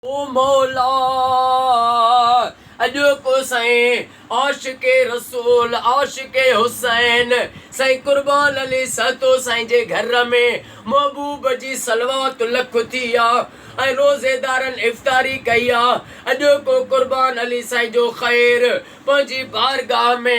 او مولا! اڄوڪو سائين عاشق رسول عاشق حسين سائين قربان علي سهتو سائين جي گهر ۾ محبوب جي صلوات لک ٿي آ ۽ روزيدارن افطاري ڪئي آ اڄوڪو قربان علي سائين جو خير پنهنجي بارگاهه ۾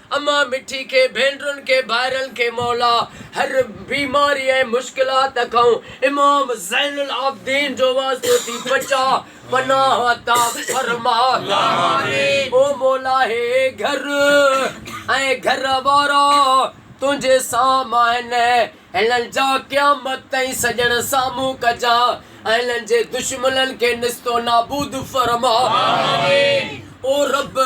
امان مٺي کي ڀينرن کي ڀائرن کي مولا هر بيماري ۽ مشڪلات کئون امام زين العابدين جو واسطو ٿي بچاء پناھ عطا فرماء او مولا هي گهر ۽ گهر وارا تنهنجي سام آهن هنن جا قيامت تائين سڄڻ سامهون ڪجان ۽ هنن جي دشمنن کي نستو نابود فرماء او رب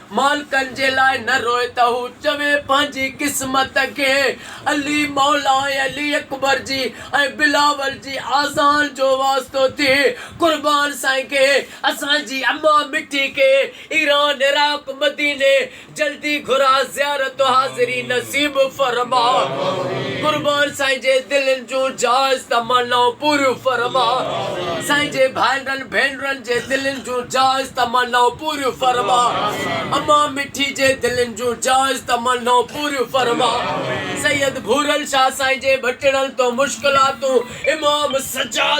مالڪن جي لاء نه روء ته هو چوي پنهنجي قسمت کي علي مولا ۽ علي اڪبر جي ۽ بلاول جي آذان جو واسطو ٿئي قربان سائين کي اسان جي اما مٺي کي ايران عراق مديني جلدي گهرا زيارت و حاضري نصيب فرما قربان سائين جي دلين جون جائز تمنائون پوريون فرما سائين جي ڀائرن ڀينرن جي دلين جون جائز تمنائون پوريون فرما اما مٺي جي دلين جون جائز تمنائون پوريون فرما سيد ڀورل شاھ سائين جي ڀٽڙل تون مشڪلاتون امام سجاد